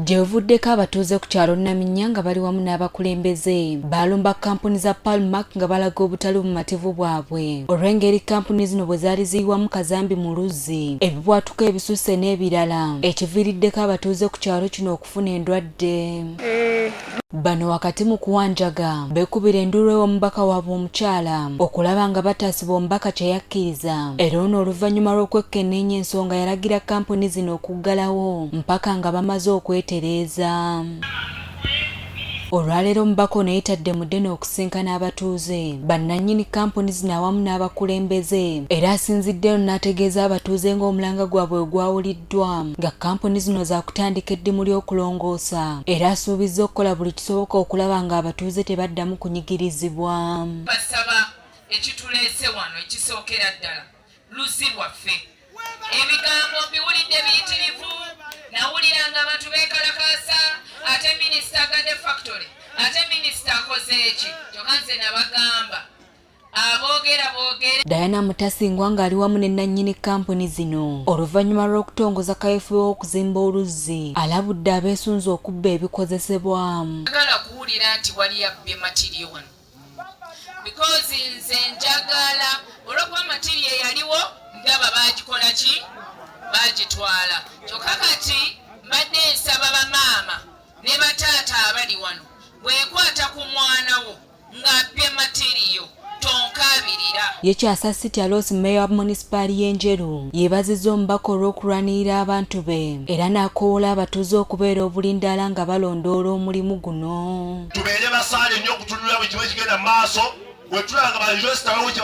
Gyebuvuddeko abatuuze ku kyalo Naminnya nga bali wamu n'abakulembeze baalumba kkampuni za Palmac nga balaga obutali bumativu bwabwe olw'engeri kkampuni zino bwe zaali ziyiwamu kazambi mu luzzi, ebibwatuka ebisusse n'ebirala ekiviiriddeko abatuuze ku kyalo kino okufuna endwadde. Eh, Bano wakati mu kuwanjaga bekubira enduulu ew'omubaka waabwe omukyala okulaba nga bataasibwa omubaka kye yakkiriza era ono oluvannyuma lw'okwekkenneenya ensonga yalagira kkampuni zino okuggalawo mpaka nga bamaze okwetereeza olwaleero omubaka ono yetadde mudde n'okusinkana abatuuze bannannyini kkampuni zino awamu n'abakulembeze era asinzidde eno n'ategeeza abatuuze ng'omulanga gwabwe ogwawulidde ekimanyiddwamu nga kkampuni zino zaakutandika eddimu ly'okulongoosa era asuubizza okukola buli kisoboka okulaba ng'abatuuze tebaddamu kunyigirizibwa basaba ekituleese wano ekisookera ddala luzzi lwaffe ebigambo mbiwulidde biyitirivu nawulira nga abantu beekalakaasa ate minisita agade factory ate minisita akoze eki kyokka nze nabagamba Diana Mutasingwa ng'ali wamu ne nnannyini kkampuni zino oluvannyuma lw'okutongoza kaweefube w'okuzimba oluzzi alabudde abeesunze okubba ebikozesebwa agala kuwulira nti wali abbye matiriyo wano bikozi nze njagala olwokuba matiriyo eyaliwo ndaba baagikola ki baagitwala kyokka kati mbadde nsaba bamaama ne bataata abali wano bwekwata ku mwana wo ng'abbye matiriyo tonkaabirira. Ye Kyasa City aloosi Mayor wa Munisipaali y'e Njeru yeebazizza omubaka olw'okulwanirira abantu be era n'akoowoola abatuuze okubeera obulindaala nga balondoola omulimu guno. Tubeere basaale nnyo okutunulira buli kimu ekigenda mu maaso bwe tulaba nga bayunivesita bawo kye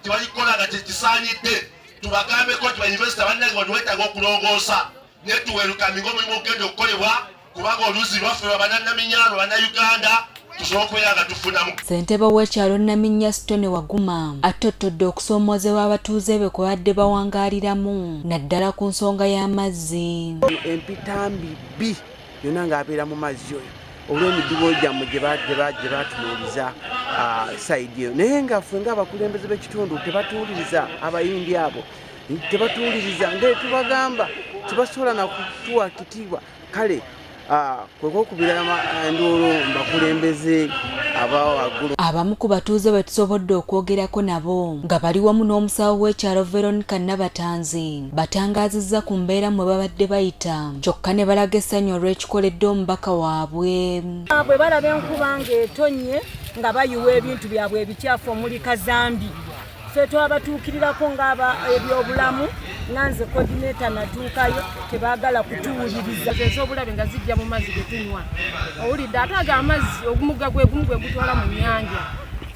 balikola nga kye kisaanidde tubagambeko nti bayunivesita bannange bano weetaaga okulongoosa netuwelukaminga omulimu okugenda okukolebwa kubanga oluzi lwaffe lwa bananaminyalo banauganda ssentebe w'ekyalo naminya sitone waguma attottodde okusoomoozebwa abatuuze be kwe badde bawangaaliramu naddala ku nsonga y'amazzi empitambi bbi yonna ng'abeera mu mazzi oyo olw'emidibo gyammwe gye batunuuliza ah, sayidi eyo naye nga ffe ng'abakulembeze b'ekitundu tebatuwuliriza abayindi abo tebatuwuliriza nga tubagamba tebasobola nakutuwa kitiibwa kale ah, kwekokubira enduulu eh, mbakulembeze abawaggulu abamu ku batuuze bwe tusobodde okwogerako nabo nga bali wamu n'omusawo w'ekyalo veronica nabatanzi batangaazizza ku mbeera mwe babadde bayita kyokka ne balaga essanyu olw'ekikoledde omubaka waabwe bwe balaba enkuba ng'etonnye nga bayiwa ebintu byabwe ebikyafu omuli kazambi ffe twabatuukirirako ngaaba ebyobulamu nga nze kodineta natuukayo tebagala kutuwuliriza ezobulabe nga zijja mu mazzi getunywa owulidde ate ago amazzi ogumugga gwegumu gwegutwala mu nyanja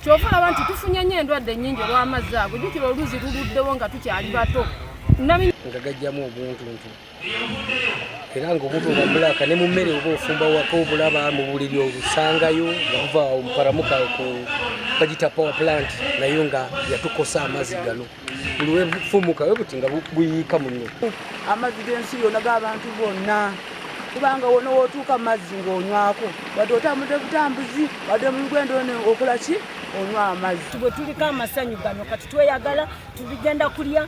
kyova olaba nti tufunye nyo endwadde nyingi olw'amazzi ago jukira oluzi luluddewo nga tukyali bato nga gajjamu obuntuntu era ngaomuntu oba mulaaka ne mu mmere oba ofumba waka obulaba mu buliri olusangayo nga buva omuparamuka bagita power plant nayo nga yatukosa amazzi gano buli wefumuka we buti nga buyiika muno amazzi g'ensi yona g'abantu bonna kubanga wona wotuuka mazzi ng'onywako wadde otambudde butambuzi wadde mulugendo one okola ki onywa amazzi bwe tuliko amasanyu gano kati tweyagala tubigenda kulya